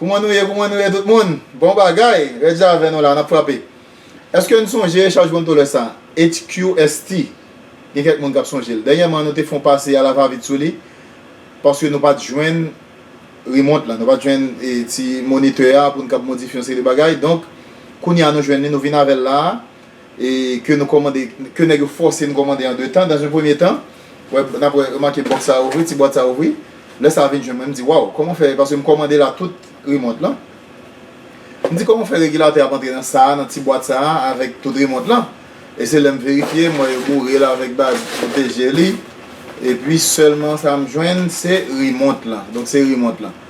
Kouman nou ye kouman nou ye tout moun bon bagay red jan avè nou la nap frape eske n sonje chaj bon tolè sa HQST gen kèk moun kap sonje l dènyèman nou te fon pase a la va vit sou li paske nou pat jwenn remont la nou pat jwenn ti monitè a pou n kab modifye yon seri de bagay donk kounya nou jwenn li nou vin avè l la e ke nou kòmande ke nèg yo fòse nou kòmande an 2 tan dans un premier temps wè nap wè remake bòks sa ouvri ti bwat sa ouvri lè sa vin jwenn mwen mdi waw kòman fè paske m kòmande la tout remont lan mdi kòman fè regilatè ap antre nan sa nan ti bwat sa avèk tout remont lan e se lèm verifye m wè yo boure l avèk baz pwoteje li epi sèlman sa m jwenn se remont lan donk se remont lan.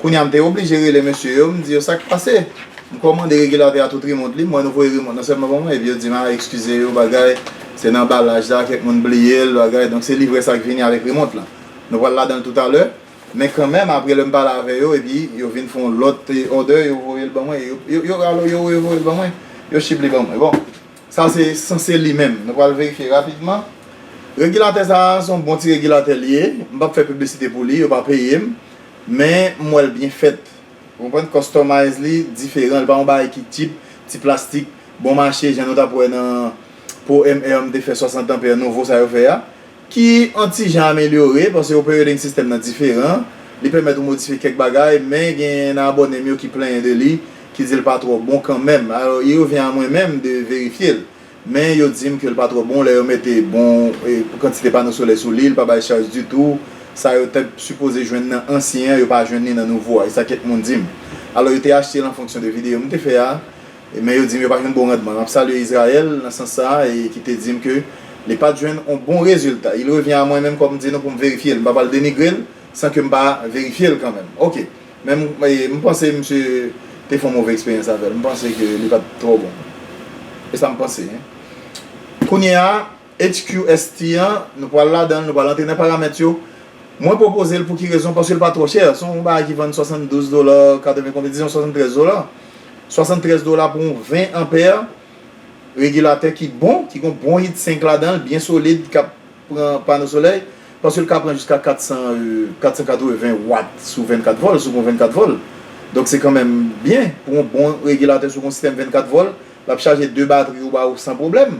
Kounya m te oblije rele mesye yo, m di yo sa k pase? M kòmande regilatè a tout remont li, m wè nou voye remont nan sèlman pou mwen, epi yo di m a ekskize yo bagay, se nan anbalaj la, kèk moun bliye l bagay, donk se livrè sa k vini avèk remont lan. Nou pral ladan l toutalè, men kanmenm apre lè m pale avè yo epi yo vin fè yon lòt òdè yo voye l ban mwen, yo rale yo revoye l ban mwen, yo chip li ban mwen. Bon. Sa se sanse li menm. Nou pral verifye rapidman. Regilatè sa a, se yon bon ti regilatè li ye. M p ap fè piblisite pou li, yo pa peye m. Men, m wè l byen fèt. Ou konprann? Customize li diferan. Li pa yon bagay ki tchip, ti plastik, bon mache, jan nou t ap wè nan Pro MR m te fè 60 ampere nouvo sa yo fè a. Ki an ti jan amelyore, paske yon perioding system nan diferan, li pèmèt ou modifye kèk bagay, men genyen nan abòne m yo ki plenyen de li, ki di l pa twò bon kanmenm. Alò i revyen a mwen menm de verifye l. Men yo di m ke l pa twò bon lè yo mete bon kantite pano solè sou li, li pa bay chaj ditou, sa yo te sipoze jwenn nan ansyen an yo pa jwenn li nan nouvo a, e sa kèk moun di m. Alò yo te achte l an fonksyon de videyo m te fè a, Men yo di m yo pa jwenn bon randman. M ap salye Israël nan sans sa a e ki te di m ke li pa t jwenn yon bon rezilta. Il revient à mwen menm kòm di nou pou m verifye l. M pa pral denigre l san ke m pa verifye l kanmenm. Ok. Men m m panse misye te fè yon move eksperyans avè l. M panse ke li pa t twò bon. E sa m panse. Kounye a. HQST an, nou pral ladan l, nou pral antre nan paramèt yo. Mwen pwopoze l pou ki rezon? Paske l pa twò chè. Se yon bagay ki vann 72 dola, 80 konbyen, dizon 73 dola. 73 dola pou yon 20 anpè regilatè ki bon, ki gon bon hit sink ladan l, byen solid, k ap pran pano solèy. Paske l ka pran jiska 400, 480 wat sou 24 vòl, sou gon 24 vòl. Donk se kanmenm byen pou yon bon regilatè sou gon sistèm 24 vòl. L ap chaje 2 batri ou ba ou san pwoblèm.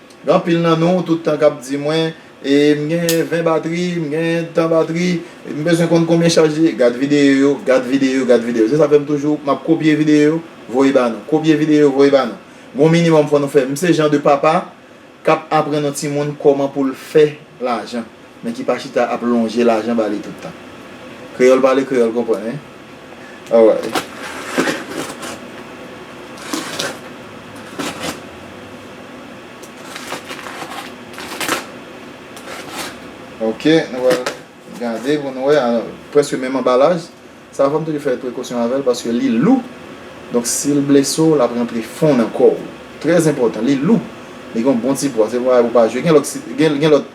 Gen anpil nan nou tout tan k ap di mwen, E m gen 20 batri, m gen tan batri, m bezwen konn konbyen chaj li ye. Gad videyo yo, gad videyo yo, gad videyo yo. Se sa k fè m toujou, m ap kopye videyo yo, voye ba nou. Kopye videyo yo, voye ba nou. Gen yon minimòm fò nou fè. M se jan de papa k ap aprann yon timoun kòman pou l fè lajan. Men ki pa chita ap lonje lajan ba li tout tan. Kreyòl pale kreyòl konprann wi. Away. Ok, nou pral gade pou nou wè. Prèske menm anbalaj. Sa fòm toujou fè prekosyon avèl paske li lou. Donk si l blese w, l ap rantre fon nan kò w. Trèzenpòtan. Li lou. Li gen yon bon ti pwa. Se yon bagay pou w pa jwe. Gen lòt, gen lòt.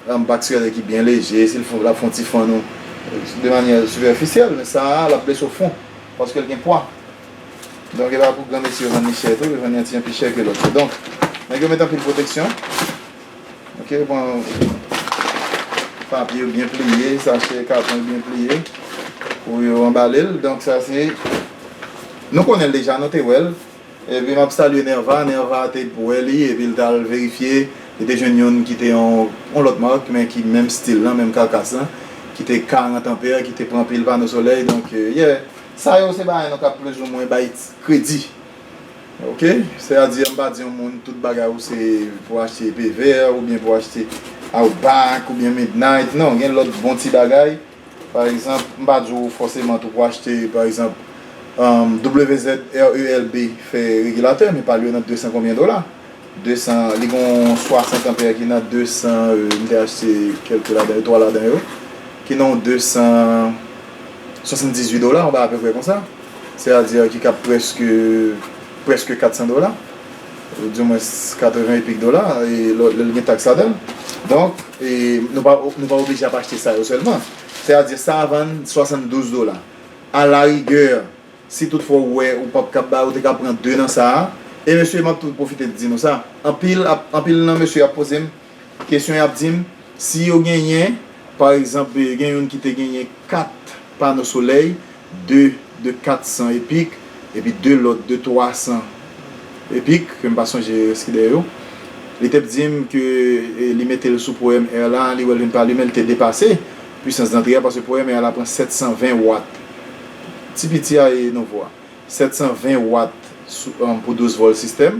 Ram pa tirelè ki byen leje, si l fon lap fon ti fann ou de manyè sipèfisyèl, men sa a lap blese w fon paske l gen pwa. Donk epa pou granmesi yo vann li chè tou, yo vann li an ti jan pi chè ke lòt yo. Donk nèg yo met anpil pwoteksyon ok, yo pran papye yo byen pliye, sachè, katon yo byen pliye pou yo anbale l, donk sa se nou konnen l deja, nou te wè l. Epi map salye Nerva, Nerva te bwè li epi li tal verifye li te jwenn youn ki te yon yon lòt mark men ki menm stil lan, menm karkas lan ki te 40 ampere ki te pran pil pano solèy donk yeah sa yo se bagay nou kab plis ou mwen bay kredi ok sè a di mpa di yon moun tout bagay ou se pou achte epevè oubyen pou achte outback oubyen midnight non gen lòt bon ti bagay. Pa egzanp, m pa di w fòseman tou pou achte, pa egzanp, WZRELB fè regilatè, men pa l yo nan 200 konbyen dola. 200, li gen yon 60 anpè ki nan 200, m te achte kèlke ladan yo, 3 ladan yo, ki nan yon 278 dola, yon bagay apeprè konsa. Sètadi ki kab prèske, prèske 400 dola. Yo di mwen 80 epik dola e lòt lè gen taks ladan l. Donk nou pa nou pa oblije ap achte sa yo sèlman. Sètadi sa vann 72 dola. A la rigè si tout fwa ou wè ou pap kab bay ou te ka pran 2 nan sa a. E mesye m ap tou pwofite di nou sa. Anpil ap anpil nan mesye ap poze m. Kesyon y ap di m, si yo genyen, pa egzanp, gen youn ki te genyen kat pano solèy, de de katsan epik, epi de lòt de twasan epik, ke m pa sonje rès ki dèyè yo, li te p di m ke li mete l sou pwèm èr la, li wè l vin pa limen, li te depase pwisans dantre a, paske pwèm èr la pran 720 wat, ti piti a e nouvo a, 720 wat pou 12 vòl sistèm.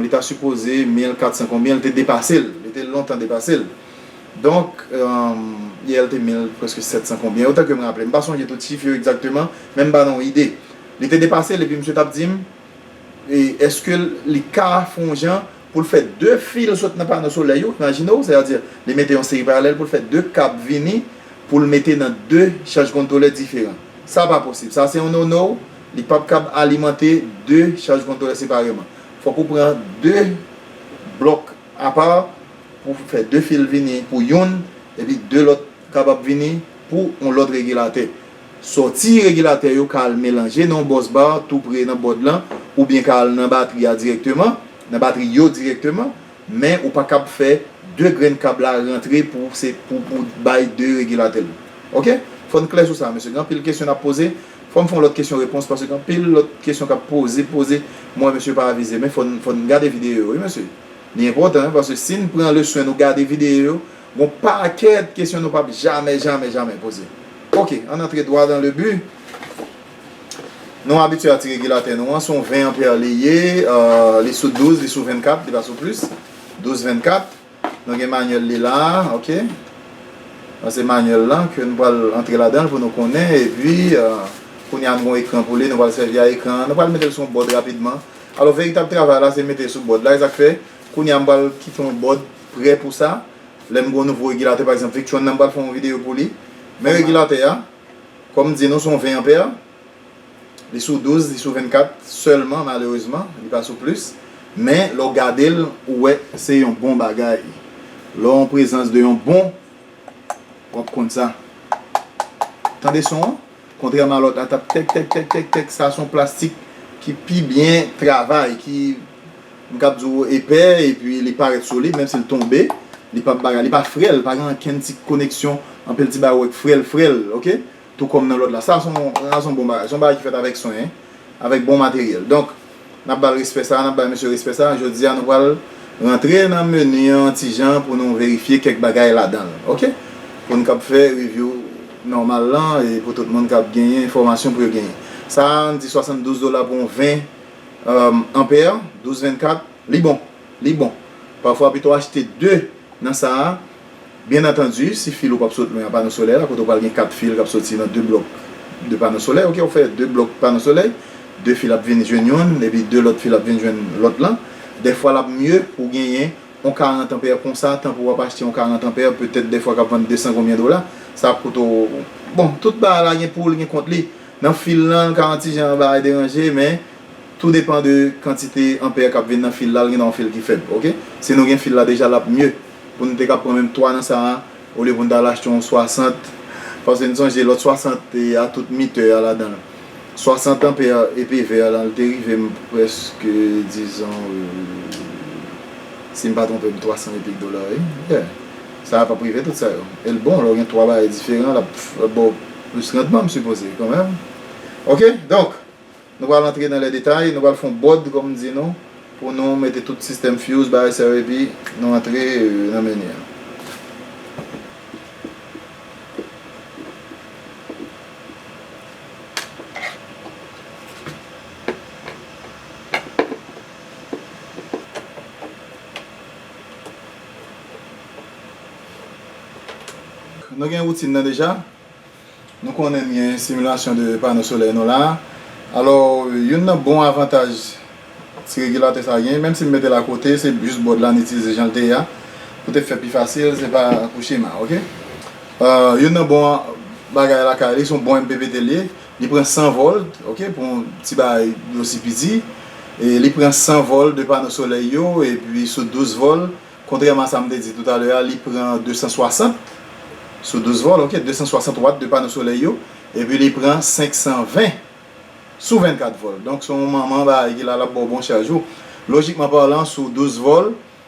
Li ta sipoze 1400 konbyen li te depase l. Li te lontan depase l. Donk, yè li te 1000 prèske 700 konbyen. Otan ke m raple. M pa sonje tout chif yo egzakteman. Men m ba nou yon ide. Li te depase l epi misye t ap di m eske li ka fè yon jan pou l fè 2 fil sot nan pano solèy yo nan Jino. Sètadi li mete yon seri paralèl pou l fè 2 kab vini pou l mete nan 2 chaj kontwolè diferan. Sa pa posib. Sa se yon no no. Li pap kab alimante 2 chaj kontwolè separeman. Fòk ou pran 2 blòk apa pou fè 2 fil vini pou youn epi 2 lòt kapab vini pou yon lòt regilatè. Sòti regilatè yo ka al melanje nan yon bòs bar tou pre nan bòd lan oubyen ka al nan batri a dirèkteman, nan batri yo dirèkteman. Men ou pa kab fè 2 grenn kab la rantre pou se pou pou bay 2 regilatèl ok fòn klè sou sa mesye gen anpil kesyon nap poze fòm fon lòt kesyon repons paske gen anpil lòt kesyon kap poze poze m wè mesye pa avize men fòn fòn gade videyo yo wi mesye li enpòtan wi paske sin pran le swen nou gade videyo yo gon pakèt kesyon nou pap jamè jamè jamè poze ok ann antre dwa dan le bi. Nou abitye a ti regilatè nou an, se yon 20 anpè li ye, li sou 12, li sou 24, li pa sou plis, 12 24, nou gen manyèl li la, ok, sa se manyèl la ke nou pral antre ladan l pou nou konnen, epi kounye a nou gen ekran pou li, nou pral sèvi a ekran an, nou pral mete l sou yon bòd rapidman, alò veritab travay la se mete l sou bòd la, e sa k fè kounye a m pral kite yon bòd prè pou sa, lè m gen yon nouvo regilatè pa egzanp Victron nan m pral fè yon videyo pou li, men regilatè a. Kòm di nou son 20 anpè, li sou 12, li sou 24 sèlman malerezman, li pa sou plis, men lè w gade l ou wè se yon bon bagay, lè w an prezans de yon bon w ap konn sa. Tande son an, kontrèman a lòt la t ap tèk tèk tèk tèk tèk, sa son plastik ki pi byen travay, ki. M kab di w epè epi li parèt solid menm si l tonbe li pa bagay li pa frèl pa gen ankenn ti koneksyon anpil ti bagay ou wè k frèl frèl ok tou kòm nan lòt la sa s on sa s on bon bagay s on bagay ki fèt avèk swen avèk bon materyèl donk n ap ba l respè sa a n ap bay mesye respè sa a jodi a nou pral rantre nan meni an yon ti jan pou nou verifye kèk bagay ladan l ok pou n kab fè reviw nòmal lan e pou tout moun kab genyen enfòmasyon pou yo genyen sa a n di 72 dola pou yon 20. Ampère, 12 24, Li bon! Li bon! Pafwa pito achte 2 nan sa a, byen antandi si fil ou pap sot lwen a pano solèy la kote ou pral gen 4 fil kap soti nan 2 blòk de pano solèy ok ou fè 2 blòk pano solèy 2 fil ap vin jwenn youn epi 2 lòt fil ap vin jwenn lòt lan dèfwa lap mye pou genyen on 40 anpè konsa tan pou wap achte on 40 anpè petèt dèfwa kap vann 200 konbyen dola sa ap koute w bon tout bagay la gen poul gen kont li. Nan fil lan, l ka yon ti jan anba e deranje, men tou depan de kantite anpè k ap vin nan fil la, l gen dwa yon fil ki fèb, ok. Si nou gen fil la deja l ap mye pou nou te ka pran menm 3 nan sa a, olye pou nou ta al achte yon 60, paske n sonje lòt 60 te a tout mitè a ladan l. 60 anpè epe vè lan l te rive m prèske dizon, si m pa twonpe m, 300 e kèk dola wi, yeah. Sa pap rive tout sa yo. El bon lè w gen 3 bagay diferan lap baw plis randman m sipoze kan menm ok donk nou pral antre nan lè detay nou pral fon bòd kòm m di nou pou nou mete tout sistèm fuse bagay sa yo epi nou antre nan meni an. Nou gen woutin nan deja, nou konnen n gen similasyon de pano solèy nou la. Alò, youn nan bon avantaj ti regilatè sa gen, menm si m mete l akote, se jis bòd la n itilize jan l te ye a, pou te fè pi fasil, se pa pou chema, ok. Youn nan bon bagay lakay li, se yon bon MPPT li ye. Li pran 100 volt ok pou yon ti bagay osi piti e li pran 100 volt de pano solèy yo epi sou 12 volt kontrèman a sa m te di toutalè a li pran 260 sou 12 volt ok 260 watt de pano solèy yo epi li pran 520 sou 24 volt donk se yon manman bagay ki la l ap ba w bon chaj ou lojikman palan sou 12 volt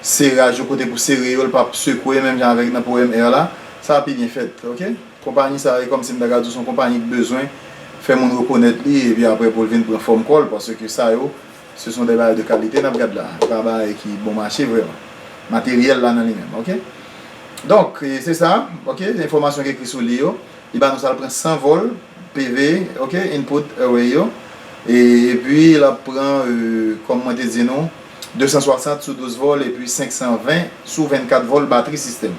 Seraj yo kote pou sere yo l pap sekwe menm jan avèk nan powèm Air la sa pi byen fèt ok konpayi sa e kòmsi m ta ka di w s on konpayi k bezwen fè moun rekonèt li epi aprè pou l vin pran fòm kò l paske sa yo se s on dè bagay de kalite n ap gad la e pa bagay ki bon mache vrèman materyèl la nan li menm ok donk se sa ok enfòmasyon k ekri sou li yo li ba nou sa l pran 100 vòl PV ok input Airway yo e epi l ap pran kòm mwen te di nou. 260 sou 12 vòl epi 520 sou 24 vòl batri sistèm.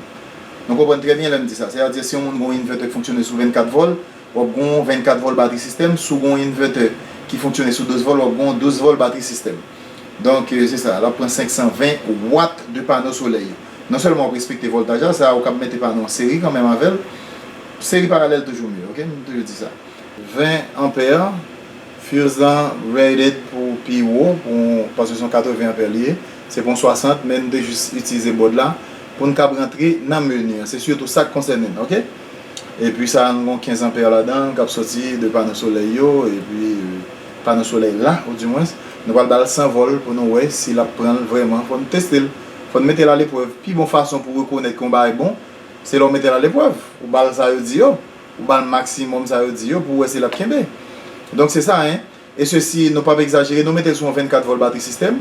Nou konprann trè byen lè m di sa. Sètadi si yon moun gen yon inverter ki fonksyone sou 24 vòl, w ap gen yon 24 vòl batri sistèm, si w gen yon inverter ki fonksyone sou 12 vòl, w ap gen yon 12 vòl batri sistèm. Donk se sa, l ap pran 520 watt de pano solèy yo. Non sèlman w ap respekte vòltaj la, sa a ou kab mete pano an seri kanmenm avè l. Seri paralèl toujou mye, ok, m toujou di sa. 20 ampere. Fuse lan rated pou pi wo pou paske son 80 ampere li ye se pou yon 60 men nou te jis itilize board la poun kab rantre nan menu an se sitou sak konsène n ok epi sa nou gon 15 ampere ladan kap soti de pano solèy yo epi pano solèy la ou di mwens nou pral bal 100 vol pou nou wè si lap pranl vrèman fò nou testel fò nou metel aleprèv pi bon fason pou rekonèt ke yon bagay bon se lè ou metel aleprèv ou bal sa yo di yo. Ou bal maximum sa yo di yo pou wè si lap kenbe. Donc c'est ça hein. Et ceci nou pap exagere nou metel sou yon 24 volt batri system.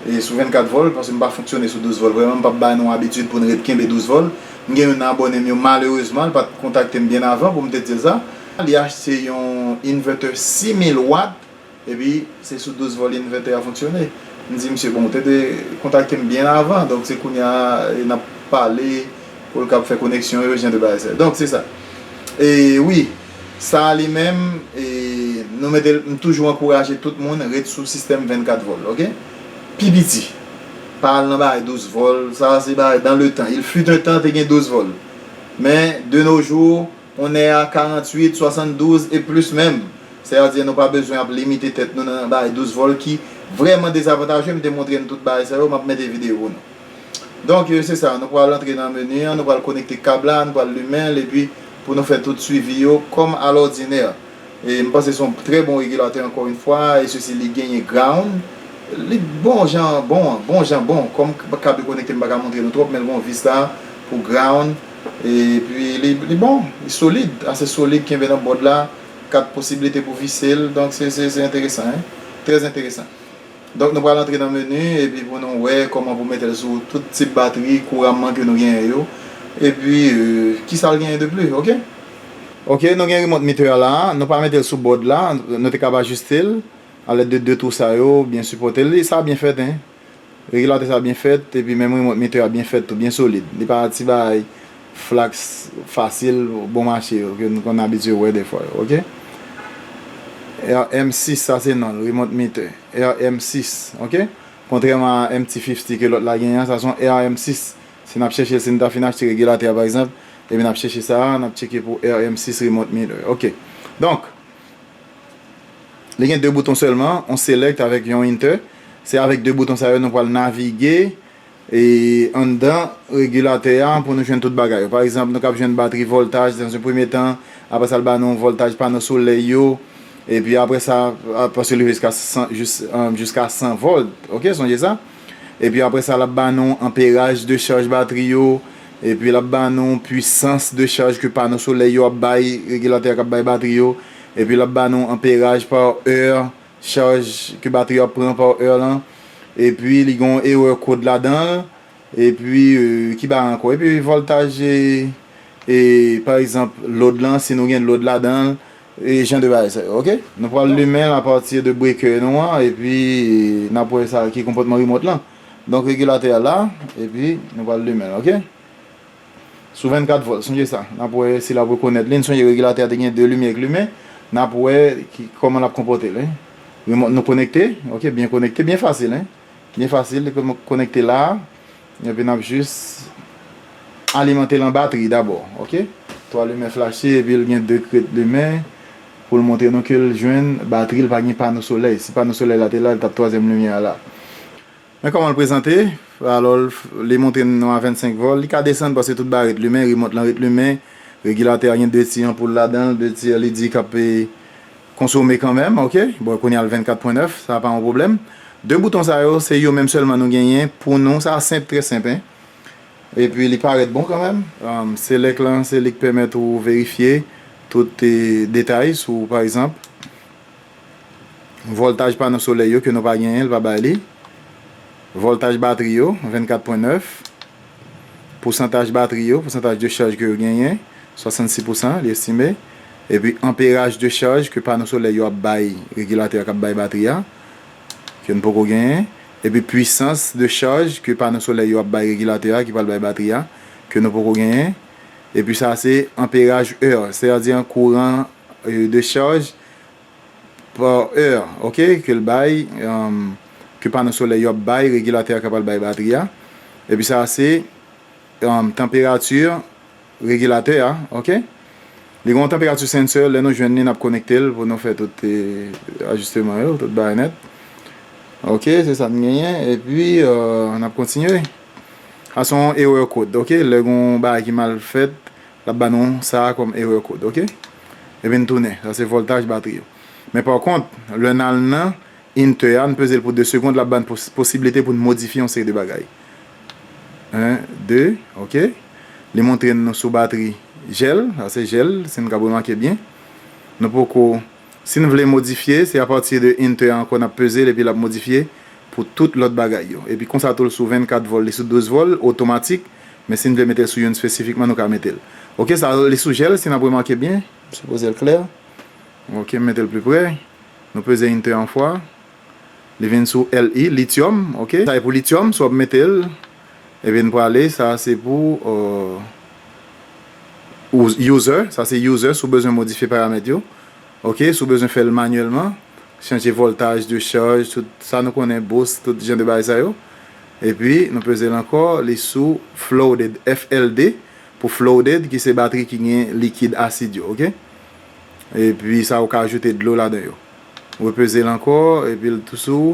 E sou 24 volt paske m pa fonksyone sou 12 volt vreman m pap bay nou abitid poun ret kenbe 12 volt. M gen youn nan abone m yo malerezman l pat kontakte m byen avan poum te dil sa. Li achte yon inverter 6000 watt Epi, se sou 12 vòl Inverter a fonksyone. M di misye, bon, ou te dwe kontakte m byen avan, donk se kounye a n ap pale pou l kab fè koneksyon yo, jan de bagay sa yo. Donk, se sa. E, wi, sa a li menm, e, nou mete l, m toujou ankouraje tout moun ret sou sistèm 24 vòl, oke? Pi piti. Pa al nan bagay 12 vòl, sa a se bagay dan le tan. Il fut un temps te gen 12 vòl. Men, de nos jours. Kounè a 48, 72 e plis menm. Sè a di nou pa bezwen ap limite tèt nou nan bay 12 vòl ki vrèman dezavantaje m te montre n tout bagay sa yo m ap mete videyo pou nou. Donk se sa nou pral antre nan meni an nou pral konekte kab la nou pral limen l epi pou nou fè tout swivi yo kòm alòdinè. E m panse son trè bon regilatè ankò yn fwa e sesi li genyen ground li t bon jan bon an bon jan bon kòm kab yo konekte m paka montre nou twòp menl gon vis la pou ground e pi li li bon li solid ase solid kenbe nan bòd la kat posibilite pou visel donk se se se enteresan hein trè enteresan donk nou pral antre nan menu e pi pou nou wè kòman pou metel sou tout tip batri kouramman ke nou genyen yo e pi kisa l genyen de pli ok. Ok nou gen remote meter a la nou pa metel sou board la nou te kab ajustel a lèd de 2 twou sa yo byen sipotel li sa byen fèt hein regulateur sa byen fèt epi menm remote meter a byen fèt tou byen solid li pa ti bagay flax fasil bon mache yo ke nou konn abitye wè dèfwa yo ok RM 6 sa se nonl remote meter RM 6 ok kontrèman a MT 50 ke lòt la genyen an sa son RM 6 Si nap chèche si nou ta fin achte regulateur par exemple epi nap chèche sa a nap tcheke pou RM 6 remote meter ok donk li gen 2 bouton sèlman yon select avèk yon enter se avèk 2 bouton sa yo nou pral navige e anndan regulateur a pou nou jwenn tout bagay yo par exemple nou kap jwenn batri voltaj dans un premier temps aprè sa li ba nou voltaj pano solèy yo epi aprè sa paske li rive jiska 100 jiska 100 volt ok sonje sa. Epi apre sa l ap ba nou anperaj de chaj batri yo, epi l ap ba nou pwisans de chaj ke pano solèy yo ap bay, regilatè a k ap bay batri yo, epi l ap ba nou anperaj pa è, chaj ke batri yo ap pran pa è lan, epi li gen yon erè kod ladan l, epi ki bagay ankò, epi vòltaj e pa egzanp lòd lan, si nou gen lòd ladan l, E jan de bagay sa yo ok. Nou pral limenl a pati de breaker nou an epi nap wè sa ki konpòtman remote lan donk regulatè a la epi nou pral limenl ok sou 24 volt sonje sa nap wè si lap rekonèt li n sonje regulatè a te gen 2 limyè ki limen nap wè ki kòman lap konpòtel wi remote nou konekte ok byen konekte byen fasil wi byen fasil li konekte la Epi nap jis alimantel an batri dabò ok 3 limen flache epil gen 2 krèt limen poul montre nou kel jwenn batril pa gen pano solèy si pano solèy la te la li tap 3 zièm limyè a la men kòmanl prezante alò li montre nou a 25 vòl li ka desann paske tout bagay ret limen remòt lan ret limen regilatè a gen 2 ti anpoul ladanl 2 ti led kap Konsome kanmenm ok bon kounya l 24 pwen 9 sa pa yon pwoblèm 2 bouton sa yo se yo menm sèlman nou genyen pou nou sa senp trè senp hein epi li parèt bon kanmenm select lan se li k pèmèt ou verifye tout detay sou pa egzanp vòltaj pano solèy yo ke nou pa genyen l pa bay li vòltaj batri yo 24 pwen 9. pousantaj batri yo, pousantaj de chaj ke yo genyen, 66 pousan, li estime, epi anperaj de chaj ke pano solèy yo ap bay regilatè a k ap bay batri a, ke n poko genyen, epi pwisans de chaj ke pano solèy yo ap bay regilatè a ki pral bay batri a, ke nou poko genyen, epi sa a se anperaj, Eur, sètadi an kouran de chaj par heure ok ke l bay ke pano solè yo ap bay regilatè a kapal bay batri a epi sa a se tanperati regilatè a ok li gen yon tanperati sensè lè nou jwenn li n ap konekte l pou nou fè tout ajisteman yo tout bagay nèt ok se sa n genyen epi n ap kontinye sa se yon erè kod ok lè gen yon bagay ki mal fèt Lap ba nou sa kòm erreur code ok. Li vin tounen, sa se voltaj batri yo. Men pa kont, lè n al nan Inter a, n peze l pou 2 segond, lap ba n posiblite pou n modifye yon seri de bagay. 1, 2, ok. Li montre n nou sou batri jèl, sa se jèl, si n kab remake byen. Nou poko Si n vle modifye, se apati de Inter a ankò n ap peze l epi l ap modifye pou tout lòt bagay yo. Epi konsa tou l sou 24 vòl, li sou 12 vòl, otomatik, men si n vle mete l sou youn spesifikman nou ka mete l. Ok sa li sou jèl si n ap remake byen, m sipoze l klè. Ok m mete l pli pre, nou peze Inter 1 fwa, li vin sou Li, lityòm, ok. Sa e pou lityòm, sou ap mete l. Ebyen n prale sa se pou user sa se user si w bezwen modifye paramèt yo ok si w bezwen fè l manyèlman chanje voltaj de chaj tout sa nou konnen boost tout jan de bagay sa yo epi nou peze l ankò li sou flooded FLD pou flooded ki se batri ki gen likid asid yo ok epi sa ou ka ajoute dlo ladan yo repeze l ankò epi l tou sou.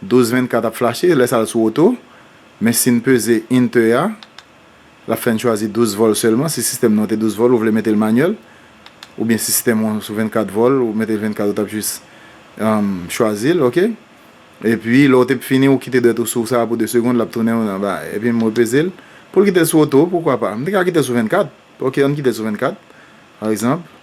12 24 ap flache lè sa al sou oto men si n peze Enter a l ap fè n chwazi 12 vòl sèlman si sistèm nou an te 12 vòl ou vle mete l manyèl oubyen si sistèm ou an sou 24 vòl ou mete l 24 ou t ap jis chwazi l ok epi lè w te fini ou kite dwèt ou sou sa pou 2 segond l ap tounen ou anba epi m repeze l pou l kite l sou oto poukwa pa m te ka kite l sou 24 ok an n kite l sou 24 pa egzanp.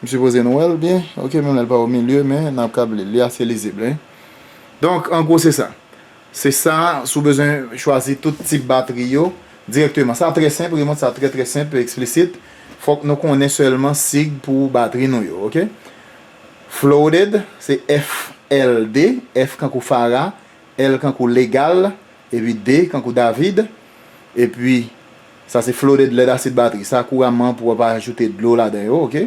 M sipoze nou wè l byen ok menm lè l pa omilye men n ap kab li l li ase lizib wi. Donk an gwo se sa. Se sa si w bezwen chwazi tout tip batri yo dirèkteman. Sa trè senp remont sa trè trè senp e eksplisit. Fòk nou konnen sèlman sig pou batri nou yo ok. Flooded se FLD, F kankou Fara, L kankou Legal, epi D kankou David, epi. Sa se flooded lèd asid batri. Sa kou raman pou wap ajoute dlo ladan yo ok.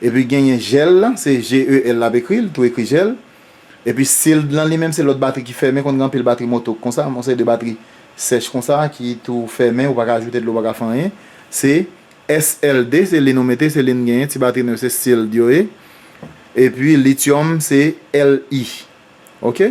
Epi genyen gel lan se GEL lap ekri l tou ekri gel. Epi sealed lan li menm se lòt batri ki fèmen konn gen anpil batri moto ki konsa yon seri de batri sèch konsa ki tou fèmen ou paka ajoute dlo ou paka fè anyen se SLD se li nou mete se li n genyen ti batri nou yo se sealed yo ye. Epi lithium se LI ok.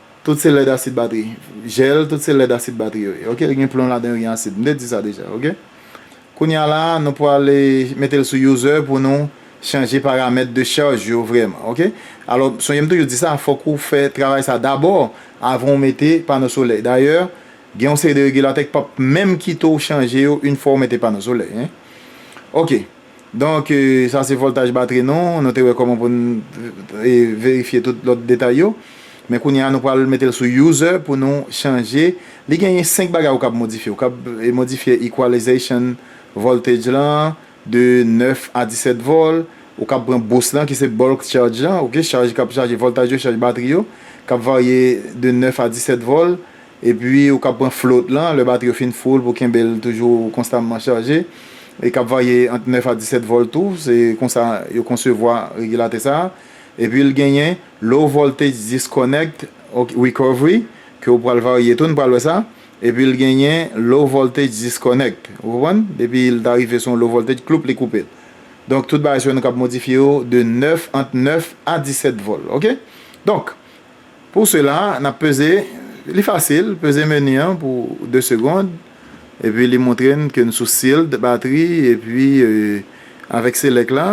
Tout se lèd asid batri. Jel tout se lèd asid batri yo ye ok gen plon ladan yo gen asid m te di sa deja ok kounya la nou pwal metel sou user pou nou chanje paramèt de charge yo vrèman ok alò sonje m toujou di sa fòk ou fè travay sa dabò avan ou mete pano solèy dayè gen yon seri de regilatè ki pap menm kite ou chanje yo une fwa ou mete pano solèy hein ok. Donk, sa se vòltaj batri nou, nou te wè kòman pou n verifye tout lòt detay yo. Men kounye a nou pral mete l sou User pou nou chanje. Li genyen 5 bagay ou kab modifye. Ou kab modifye Equalization voltage lan de 9 a 17 vol. Ou kab pran boost lan ki se bulk charge lan, ok, chaj kap chaje vòltaj yo, chaj batri yo, kap varye de 9 a 17 vol. Epi ou kab pran float lan lè batri yo fin full pou kenbe l toujou konstamman chaje. Li kab varye ant 9 a 17 vòl tou, se konsa yo konsevwa regilatè sa a. Epi l genyen Low Voltage Disconnect Recovery ke ou pral varye tou, n pral wè sa. Epi l genyen Low Voltage Disconnect, ou konprann? Depi l ta rive sou yon Low Voltage, kloup li koupe l. Donk tout bagay sa yo nou kab modifye yo de 9, ant 9 a 17 vòl, ok? Donk, Pou sela, n ap peze, li fasil, peze meni an pou 2 segond, epi li montre n ke n sou Sealed Battery, epi avèk Select la,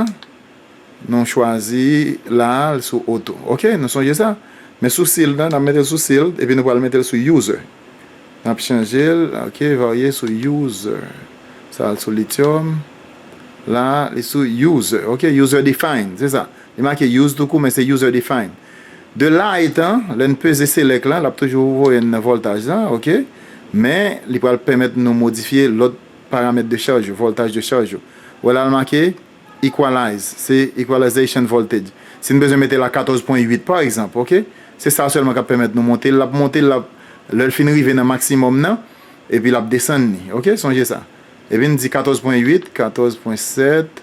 nou chwazi la a l sou Auto. Ok, nou sonje sa? Men sou Sealed la, n ap mete l sou Sealed, epi nou pral mete l sou User. N ap chanje l, ok, varye sou User. Sa al sou Lithium. La a, li sou User, ok, User Defined, se sa. Li make use tou kou men se user define. De la etan, lè n peze select lan, l ap toujou voye n nan voltaj lan, ok. Men, li pral pèmèt nou modifye lòt paramèt de charj yo, voltaj de charj yo. Wè la l make equalize, se equalization voltage. Si n bezwen mete la 14 pwen 8 pa egzanp, ok. Se sa sèlman k ap pèmèt nou monte l. L ap monte l, l ap, lè l fin rive nan maksimòm nan, epi l ap desann li, ok. Sonje sa. Epi n di 14 pwen 8, 14 pwen 7.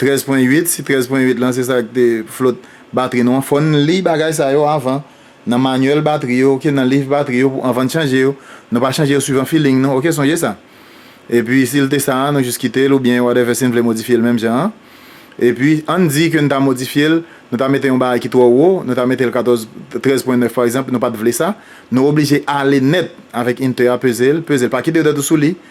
13 pwen 8, si 13 pwen 8 lan se sa ki te flot batri nou an, fò n li bagay sa yo avan, nan manyèl batri yo ok, nan liv batri yo avan n chanje yo, nou pa chanje yo swivan filing nou ok, sonje sa. Epi si l te sa a nou jis kite l oubyen whatever si n vle modifye l menm jan an. Epi an n di ke n ta modifye l, nou ta mete yon bagay ki twò wo, nou ta mete l 14, 13 pwen 9 pa egzanp, nou pa t vle sa, nou oblije ale nèt avèk inte a peze l, peze l, pa kite dwèt ou sou li,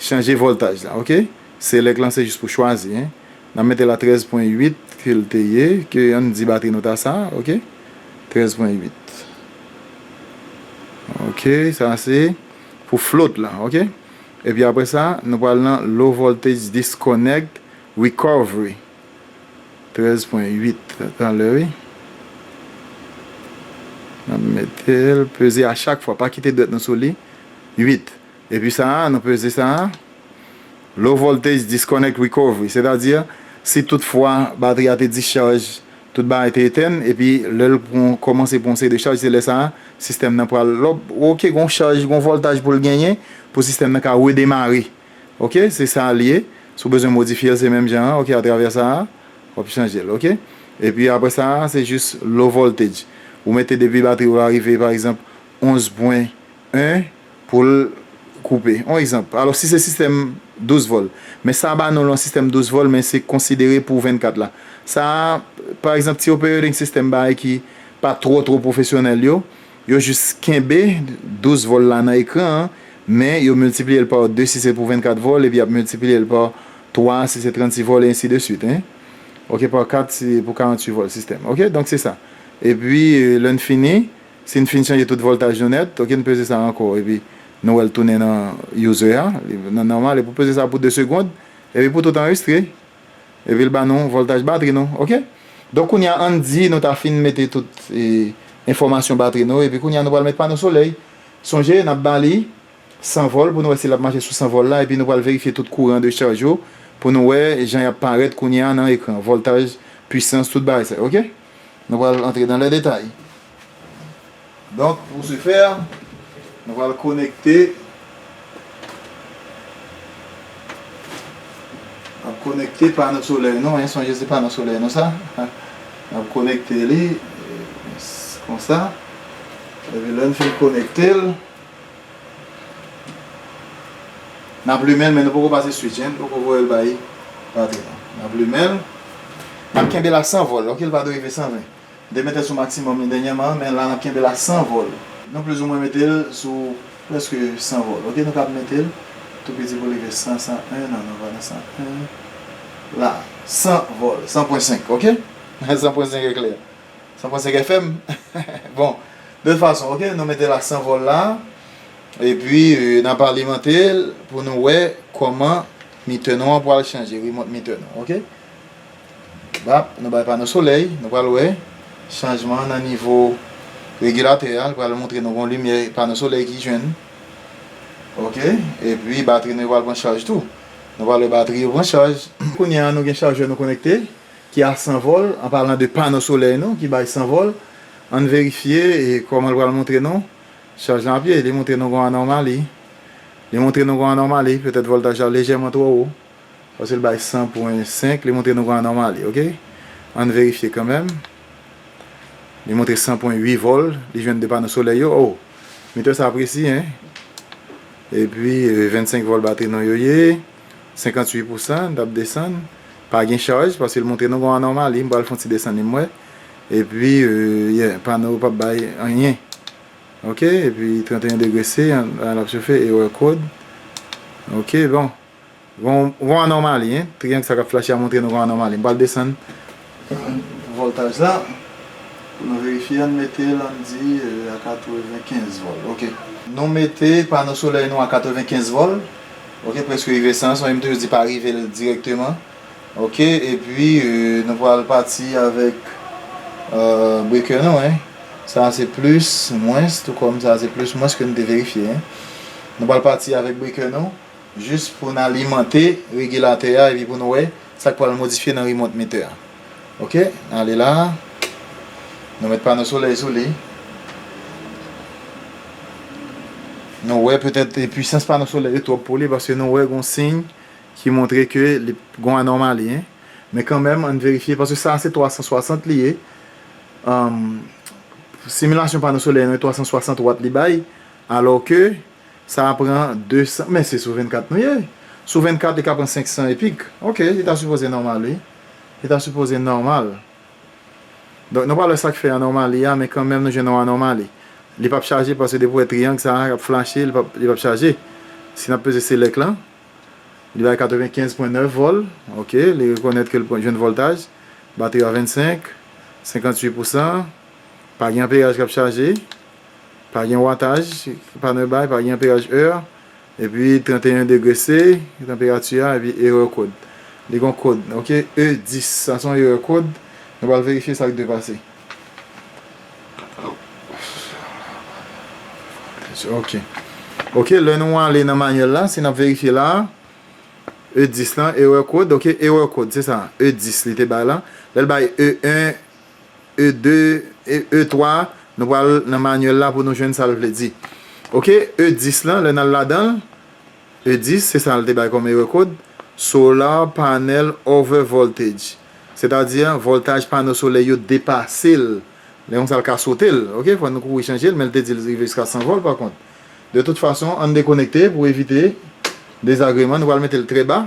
Chanje voltaj la ok. Select lan se jis pou chwazi hein. Nap metel a 13 pwen 8 kel te ye ke ann di batri nou ta sa ok. 13 pwen 8 ok sa se pou float lan ok. Epi apre sa nou pral nan low voltage disconnect recovery 13 pwen 8 tanlè wi. Nap metel peze a chak fwa pa kite dwèt nou sou li 8. Epi sa a, nou peze sa a, Low voltage disconnect recovery, sètadi, si tout fwa batri a te discharge, tout bagay te etèn, epi lè l pran, kòmanse pran yon seri de chaj, se lè sa a, sistèm nan pral, ok, gen yon chaj, gen yon voltaj pou l genyen, pou sistèm nan ka redemare. Ok, se sa l ye. Si w bezwen modifye l, se menm jan an, ok, atravè sa a, w ap chanje l, ok. Epi apre sa a, se jis low voltage. Ou mete depi batri ou a rive, pa egzanp, 11 pwen 1 pou l koupe. Yon egzanp, alò si se sistèm 12 vòl, men sa ba nou l yon sistèm 12 vòl men se konsidere pou 24 la. Sa a, pa egzanp, ti opereding sistèm bay ki pa twò twò pwofesyonèl yo, yo jis kenbe 12 vòl la nan ekran an, men yo miltipliye l pa 2 si se pou 24 vòl epi y ap miltipliye l pa 3 si se 36 vòl e ensi de suit, en, ok, pa 4 si pou 48 vòl sistèm, ok, donk se sa. Epi, lè n fini. Si n fin chanje tout voltaj nou nèt, ok n peze sa ankò epi nou wè l tounen nan user a, nan nòmal epi w peze sa pou 2 segond epi pou tout anrestre epi l ba nou voltaj batri nou ok. Donk kounye a ann di nou ta fin mete tout enfòmasyon batri nou epi kounye a nou pral met pano solèy, sonje n ap ba li 100 vòl pou nou wè si l ap mache sou 100 vòl la epi nou pral verifye tout kouran de chaj yo pou nou wè jan y ap parèt kounye a nan ekran, voltaj, pwisans, tout bagay sa yo ok. Nou pral antre dan lè detay. Donk pou se fè, nou pral konekte, nap konekte pano solèy nou an, sonje se pano solèy nou sa, nap konekte li, konsa, epi lè nou fin konekte l. Nap limenl men nou poko pase switch hein, nou poko voyel bay batri non. Nap limenl, nap kenbel a 100 vol ok li pa dwe rive 120. M te metel sou maksimòm li dènyèman men la nap kenbel a 100 vol. Nou pliz ou mwen metel sou prèske 100 vol ok nou kab metel tou piti pou rive 100, 101 nan nou pa nan 101 la 100 vol, 100.5 ok 100.5 eklè. San pran 5 FM bon de tout fason ok nou mete la san vol la epi nap alimante l pou nou wè koman meter nou an pwal chanje remote meter nou ok bap nou bay pano solèy nou pwal wè chanjman nan nivo regulateur a li pwal montre nou gon limyè pano solèy ki jwenn ok epi batri nou yo pwal pran chaj tou nou pwal wè batri yo pran chaj kounya nou gen chajè nou konekte ki a san vòl, an palan de pano solèy nou ki bay san vòl, ann verifye kòman l pral montre nou chaj lan ap ye. Li montre nou gon anòmali, li montre nou gon anòmali, petèt vòltaj la lejèman twò wo, paske l bay 100 pwen 5, li montre nou gon anòmali ok, ann verifye kanmèm, li montre 100 pwen 8 vòl li jwenn de pano solèy yo, oh metè sa presi hein, epi 25 vòl batri nou yo ye, 58 pousan, n t ap desann. Pa gen chaj paske l montre nou gon anomali m pral fon ti desann li m wè epi yeah pano pap bay anyen ok epi 31 degre se la lap chofe erreur code ok bon gon anomali hein triangle sa kap flache a montre nou gon anomali m pral desann voltaj la pou nou verifye an mete l an di a 95 vòl ok nou mete pano solèy nou a 95 vòl. Ok preske rive sans wi m toujou di pa rive l direkteman ok epi nou pral pati avèk breaker nou hein sa a se plis mwens tou kòm sa a se plis mwens ke nou te verifye hein nou pral pati avèk breaker nou jis pou n alimante regilatè a epi pou n wè sa k pral modifye nan remote meter a. Ok ale la Nou met pano solèy sou li Nou wè petèt pwisans pano solèy yo twòp pou li paske nou wè gon siy ki montre ke li gon anòmali men kanmèm ann verifye paske sa a se 360 li ye similasyon pano solèy nou e 360 watt li bay alò ke sa a pran 200 men se sou 24 nou ye sou 24 li ka pran 500 epik ok li ta sipoze nòmal wi. Li ta sipoze nòmal. Donk nou pral wè sak fè anòmali a men kanmenm nou jwenn yon anòmali. Li pap chaje paske depi ou wè triang sa a kap flache li pap li pap chaje. Si nap peze select lan li bay 95 pwen 9 vol ok li rekonèt ke li pran jwenn voltaj batri a 25 58 pousan pa gen anperaj kap chaje pa gen wataj pano yo bay pa gen anperaj ur. Epi 31 degre se tanperati a epi erè kod. Li gon kod ok E 10 sa se yon erè kod nou pral verifye sa k dwe pase ok ok lè nou ale nan manyèl la se n ap verifye la a E 10 lan erè kod ok erè kod se sa E 10 li te bay la lè l bay E 1. E2 e E3 nou pral nan manyèl la pou nou jwenn sa l vle di ok E10 lan lè n al ladan l E10 se sa l te bay kòm erè kod solar panel overvoltage sètadi vòltaj pano solè yo depase l lè konsa l ka sote l ok fò nou kouri chanje l men l te di l rive jiska 100 vòl pakont de tout fason an n dekonekte pou evite dezagreman nou pral mete l trè ba.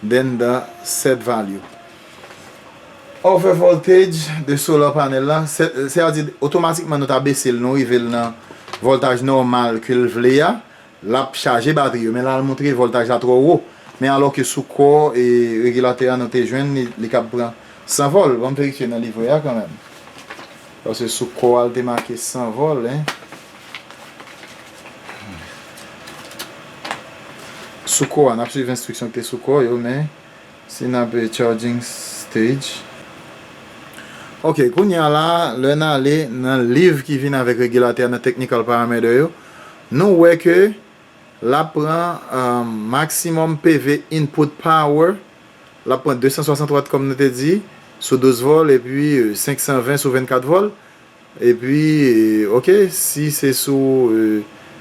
Den dan set value. Over voltage de solar panel la, se a di otomatikman nou ta bese l nou rive l nan voltaj nòmal ke l vle a, l ap chaje batri yo men la l montre voltaj la twò wo men alò ke sou kò regilatè a nou te jwenn li kab pran 100 volt, bon m verifye nan livre a kanmèm. Paske sou kò a li te make san vòl hein. Sou kò a nap swiv enstriksyon ki te sou kò yo men si nap charging stage. Ok kounye a la lè nale nan liv ki vin avèk regilatè a nan technical parameter yo nou wè ke lap pran maximum PV input power. L ap pran 260 Watt kòm nou te di, sou 12 vòl epi 520 sou 24 vòl. Epi ok, si se sou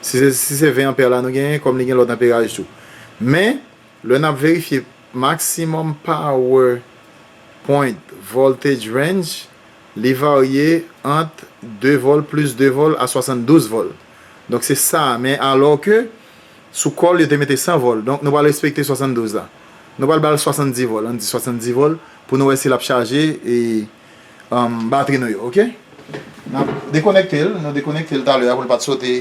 si se 20 anpè la nou genyen kòm li gen lòt anperaj tou. Men, lè n ap verifye maximum power point voltage range, li varye ant 2 vòl plis 2 vòl a 72 vòl. Donk se sa a men alò ke. Sou kò l, yo te mete 100 vòl. Donk, nou pral respekte 72 la. Nou pral ba l 70 vòl. Ann di 70 vòl pou nou wè si l ap chaje e batri nou yo. Oke? N ap dekonekte l. Nou dekonekte l talè a pou l pa t sote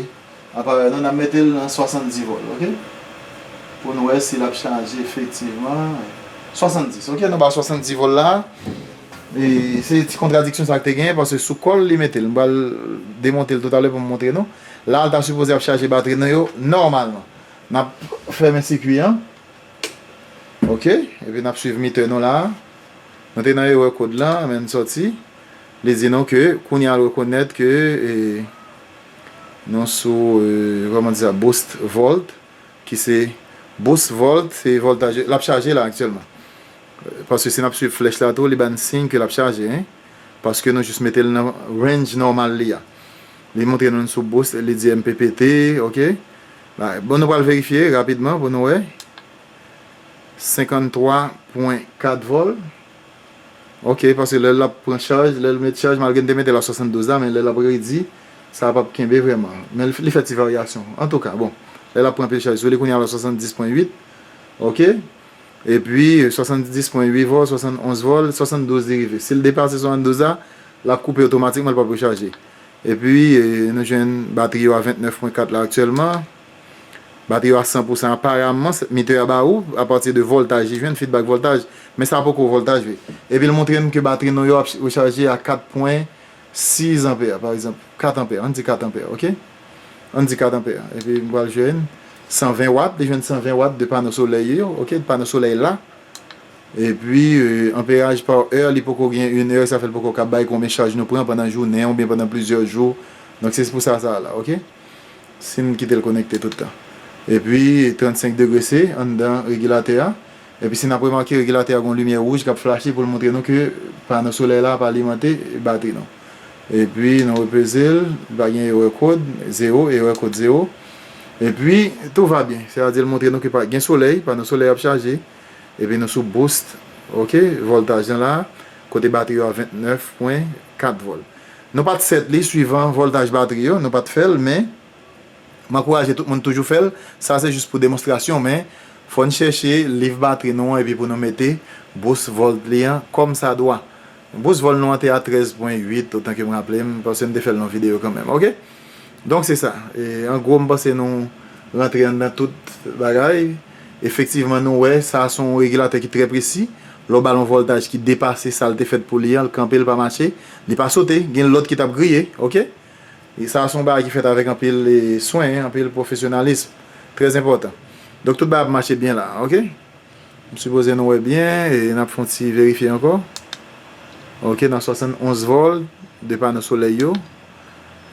aparèy nou. N ap mete l nan 70 vòl. Oke? Pou nou wè si l ap chaje efektivman. 70. Oke, nou ba l 70 vòl la. E se ti kontradiksyon sa k te gen paske sou kò l li mete l. M pral demonte l toutalè pou m montre nou. La ta sipoze ap chaje batri nou yo nòmalman. Nap fèmen sikwi an. Ok, epi nap swiv meter nou la. Nou te nan erè kod la, men n sòti. Li di nou ke kounye a l rekonèt ke nou sou kòman di sa boost volt ki se boost volt se voltaj lap chaje la aktyèlman. Paske si nap swiv flèch la tou li ba n siy ke lap chaje paske nou jis mete l nan range nòmal li a. Li montre nou n sou bous li di mpp ok la bon nou pral verifye rapidman pou nou wè 53 pwen 4 vol ok paske lè lap pran chaj lèl met chaj malgre n te metel a 72 la men lè lap redi sa pap kenbe vrèman men li fè ti varyasyon antouka bon lè lap pran pil chaj sou li kounya la 70 pwen 8 ok epi 70 pwen 8 vol 71 vol 72 li rive sil depase 72 la lap koupe otomatikman li pap rechaje. Epi, nou jwenn batri yo a 29 pwen 4 la aktyèlman. Batri yo a 100 pousan aparamman. Mitè a ba ou, apati de vòltaj li jwenn, fidbak vòltaj. Men sa poko vòltaj vre. Epi l montre n ke batri nou yo ap rechaje a 4 pwen 6 anpè, pa egzanp, 4 anpè. An n di 4 anpè, ok. An n di 4 anpè. Epi m pral jwenn 120 wat. Li jwenn 120 wat de pano solèy yo, ok, de pano solèy la. Epi amperaj par heure li poko gen une heure sa fè l poko ka bay konbyen chaj nou pran pandan jounen oubyen pandan plizyè jou donk se pou sa sa a la ok si n kite l konekte tout tan epi 35 degre se anndan regilatè a epi si n ap remake regilatè a gon limyè wouj k ap flache pou l montre nou ke pano solèy la ap alimante batri nou epi nou repeze l li pa gen erè kod zewo erè kod zewo epi tou va byen se ta di l montre nou ke gen solèy pano solèy ap chaje. Epi nou sou boost ok voltaj lan la kote batri yo a 29 pwen 4 volt nou pat set li suivan voltaj batri yo nou pat fel men m ankouraje tout moun toujou fel sa se jis pou demonstrasyon men fòn chèche liv batri nou an epi pou nou mete boost volt li an kòm sa dwa boost volt nou an te a 13 pwen 8 otan kem raplem paske m te fel nan video kanmenm ok. Donk se sa, an gwo m panse nou rantre anndan tout bagay. Efektivman nou wè sa se yon regilatè ki trè presi, lè w ba l yon vòltaj ki depase sa l te fèt pou li an, l kanpe l pa mache, li pa sote, gen lòt ki t ap griye ok. Sa se yon bagay ki fèt avèk anpil swen, anpil pwofesyonalism, trè enpòtan. Donk tout bagay ap mache byen la ok. M sipoze nou wè byen, n ap fè yon ti verifye ankò ok nan 71 vòlt 2 pano solèy yo.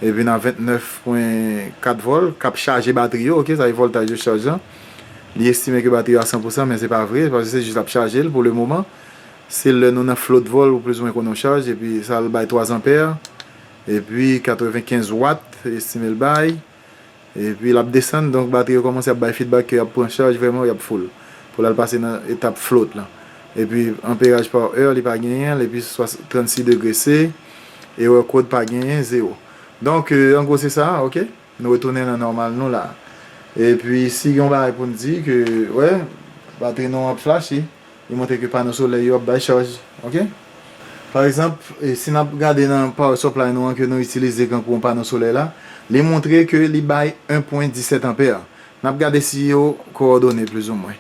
epi nan 29 pwen 4 vol kap chaje batri yo ok sa se voltaj de chaj lan li estime ke batri yo a 100 pousan men se pa vre paske se jis lap chajel pou le moman se lè nou nan float vol ou plis ou mwen konn yon chaj epi sa al bay 3 anpè epi 95 watt estimel bay. Epi lap desann donk batri yo kòmanse ap bay feedback ke yap pran chaj vrèman yap full pou lal pase nan etap float lan epi anperaj par heure li pa genyenl epi 36 degre se erreur code pa genyen 0 donk an gwo se sa ok nou retounen nan nòmal nou la epi si gen yon bagay poun di ke wè batri nou an ap flashe. Li montre ke pano solèy yo ap bay chaj. Ok. Pa egzanp, si n ap gade nan power supply nou an ke nou itilize kankou yon pano solèy la, li montre ke li bay 1 pwen 17 anpè. N ap gade si yo kowòdone plizoumwen.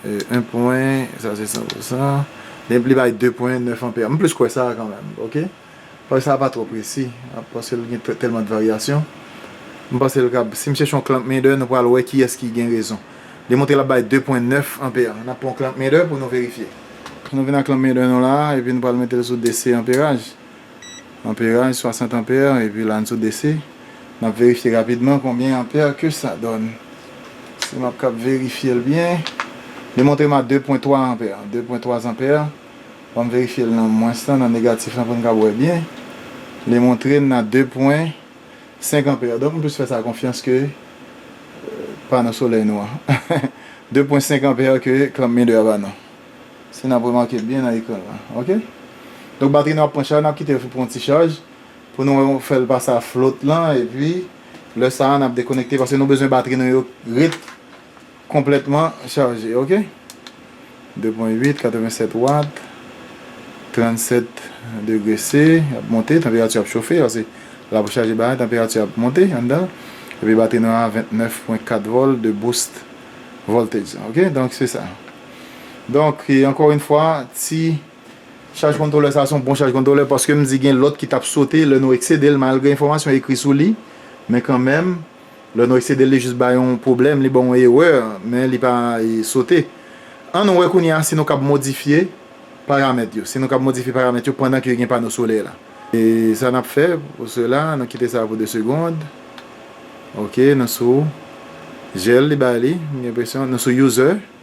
1 pwen, sa se 100 pou 100. Li bay 2 pwen 9 anpè. M plis kwè sa a kanmenm. Ok. Paj sa pa twò presi paske l gen tèlman de varyasyon. M panse l kab, si m chèche yon clamp meter nou pral wè kiyès ki gen rezon. Li montre l ap bay 2 pwen 9 anpè. N ap pran yon clamp meter pou nou verifye. Nou vin ak clamp meter nou la a epi nou pral mete l sou DC anperaj. Anperaj 60 anpè epi la n sou DC. N ap verifye rapidman konbyen anpè ke sa dònn. Si m ap kab verifye l byen. Li montre m a 2 pwen 3 anpè. 2 pwen 3 anpè. Banm verifyel nan mwens lan nan negatif lan poun kab wè byen li montre'n nan 2 pwen 5 anpè donk m plis fè sa konfyans ke pano solèy nou an 2 pwen 5 anpè ke klanm mide a ba nou si nap remake byen nan ekran lan ok donk batri nou ap pran chaj nap kitel pou pran yon ti chaj pou nou fèl pa sa flot lan epi lè sa nap dekonekte paske nou bezwen batri nou yo ret Konplètman chaje ok. 2 pwen 8 87 watt 37 degre se ap monte tanperati ap chofe pase lap chaje batri tanperati ap monte anndan l epi batri nou a 29 pwen 4 vòl de boost voltage lan ok donk se sa donk ankò yn fwa ti chaj kontwolè sa son bon chaj kontwolè paske m di gen lòt ki tap sote lè nou eksede l malgre enfòmasyon ekri sou li men kanmenm. Lè nou eksede l li jis bay yon pwoblèm, li ba w yon erè, men li pa sote. An nou wè kounye a si nou kab modifye paramèt yo, si nou kab modifye paramèt yo pandan ke gen pano solè la. E sa n ap fè pou sela, nou kite sa pou 2 segond. Ok, nou sou Gel li bay li, m gen enpresyon, nou sou User.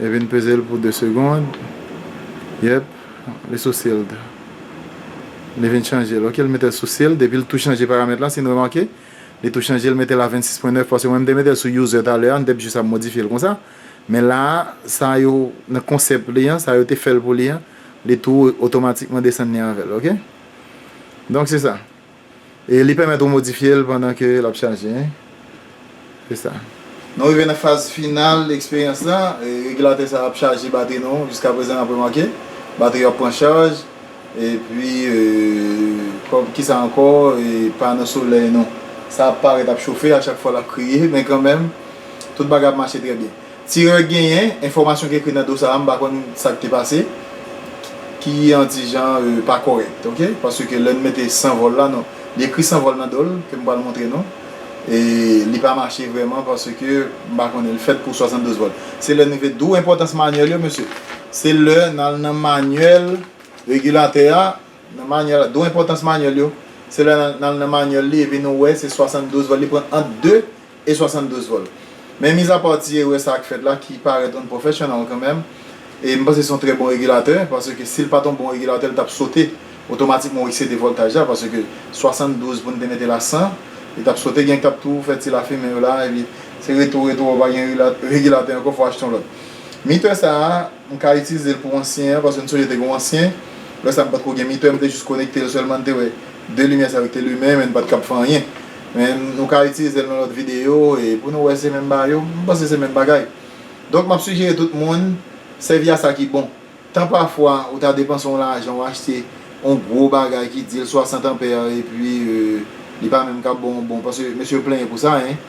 E vin peze l pou 2 segond. Yep li sou sealed. Li vin chanje l ok li mete l sou sealed epi l tou chanje paramèt la si n remake li tou chanje l mete l a 26 pwen 9 paske mwen m te mete l sou user talè a m te jis ap modifye l konsa men la a sa yo nan konsèp li an sa yo te fè l pou li an li tou otomatikman desann li avè l ok donk se sa. E li pèmèt ou modifye l pandan ke l ap chaje. Se sa. Nou rive nan faz final eksperyans la. Regilatè sa ap chaje batri nou. Jiska prezan n ap remake batri yo ap pran chaj. E pi kòm ki sa ankò e pano solèy nou. Sa ap parèt ap chofe a chak fwa l ap kriye men kanmenm tout bagay ap mache trè byen. Tirè genyen, enfòmasyon ki ekri nan do sa a m pa konn sa k te pase, ki an ti jan pa kòrèk ok, paske lè n mete san vòl la non, li ekri san vòl nan do l ke m pral montre nou, e li pa mache vrèman paske m pa konnen l fèt pou 72 vòl. Se lè nou vle, d'où enpòtans manyèl yo mesye, se lè n al nan manyèl regilatè a, nan manyèl la, d'où enpòtans manyèl yo, se lè n al nan manyèl li epi nou wè se 72 vòl li pran ant 2 e 72 vol. Men mizapa w ti erè sa k fèt la ki parèt unprofessional kanmenm e m panse se yon trè bon regilatè paske si l pa t yon bon regilatè l t ap sote otomatikman ou eksede voltaj la paske 72 pou n te mete l a 100 li t ap sote gen k t ap tou fè ti lafimen yo la epi se retou retou ou pa gen regilatè ankò fò w achte yon lòt. Mitè sa a. M ka itilize l pou ansyen an paske m sonje te gen yon ansyen. Lè sa m pat ko gen mitè, m te jis konekte l sèlman, m te wè 2 limyè sa yo ki te limen men n pat kab fè anyen. Men nou ka itilize l nan lòt videyo e pou nou wè se menm ba yo. M panse se menm bagay. Donk m ap sijere tout moun sèvi a sa ki bon. Tan pafwa ou ta depanse yon lajan ou achte yon gwo bagay ki di l 60 anpè epi li pa menm kab bon bon paske mesye yo plenyen pou sa hein.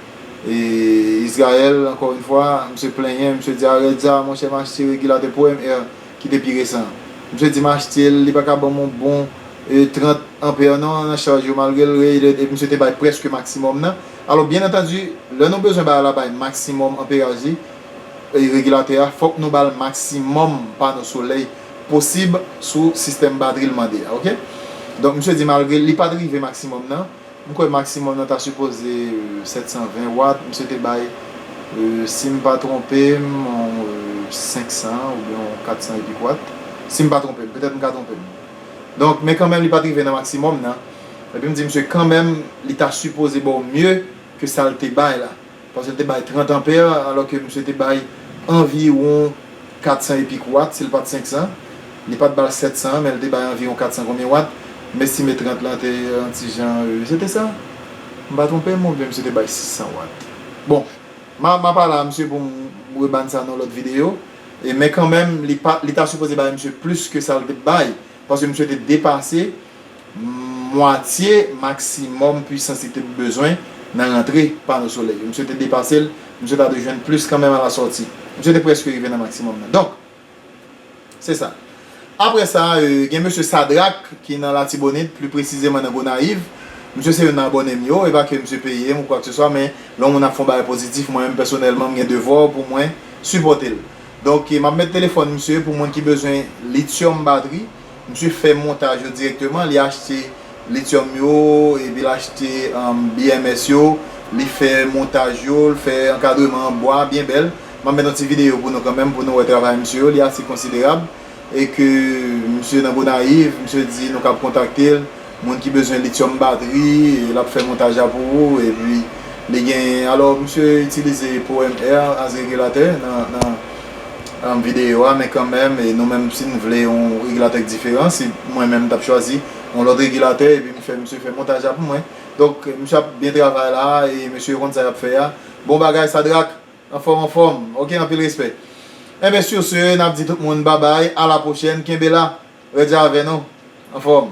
E Israel ankò yn fwa, misye plenyen, misye di Arèdja, monchè m achte regilatè pwm air ki te pi resan an. Misye di m achte l, li pa ka ban m yon bon 30 ampère non nan chaj yo malgre l rated epi misye te bay prèske maksimòm nan. Alò byen antandi, lè nou bezwen bay la bay maksimòm anperaj li, regilatè a, fòk nou ba l maksimòm pano solèy posib sou sistèm batri l mande a ok. Donk misye di malgre li pat rive maksimòm nan, M kwè maximum nan ta sipoze 720 watt, misye te bay sim pa twonpem yon 500 oubyen yon 400 e kik watt, sim pa twonpem, petèt m ka twonpem. Donk men kanmenm li pat rive nan maximum nan, epi m di misye kanmenm li ta sipoze baw mye ke sal te bay la. Paske l te bay 30 anpè, alò ke misye te bay anviwon 400 e pik wat, si l pa t 500. Li pa t ba l 700 an, men l te bay anviwon 400 konbyen wat. M estime 30 lan te yon ti jan, se te sa? M pa twonpe m oubyen misye te bay 600 wat? Bon, m a, m a pa la a, misye, pou m rebann sa nan yon lòt videyo. E, men kanmenm, li pa, li ta sipoze bay misye plis ke sa l te bay, paske misye te depase. mwatye maksimòm pwisans li te bezwen nan rantre pano solèy yo. Misye te depase l, misye ta dwe jwenn plis kanmenm a la sòti. Misye te prèske rive nan maksimòm nan. Donk, se sa. Apre sa, gen mesye Sadrak ki nan Latibonit, pli presizeman nan Gonayiv. Misye se youn nan abòne m yo. E pa ke misye peye m ou kwakseswa, men lè yon moun ap fè yon bagay pozitif, mwen menm pèsonèlman m gen devwa pou mwen sipòte l. Donk, m ap met telefòn misye pou moun ki bezwen lityòm batri. Misye fè montaj yo direkteman, li achte lityòm yo epi l achte BMS yo, li fè montaj yo, l fè ankadreman an bwa byen bèl. M ap met yon ti videyo pou nou kanmenm pou nou wè travay misye yo, li ase konsiderab e ke misye nan Gonayiv, misye di nou kab kontakte l. moun ki bezwen lityòm batri e lap fè montaj la pou ou epi li gen alò misye itilize powèm air as regilatè nan videyo a men kanmèm nou menm si n vle yon regilatè k diferan si mwen menm m tap chwazi yon lòt regilatè epi m fè misye fè montaj la pou mwen donk misye ap byen travay la e mesye yo konn sa yap fè a bon bagay Sadrack anfòm anfòm ok anpil respè enben sur ce nap di tout moun babay a la pwochèn kenbe la rèd la avè nou anfòm.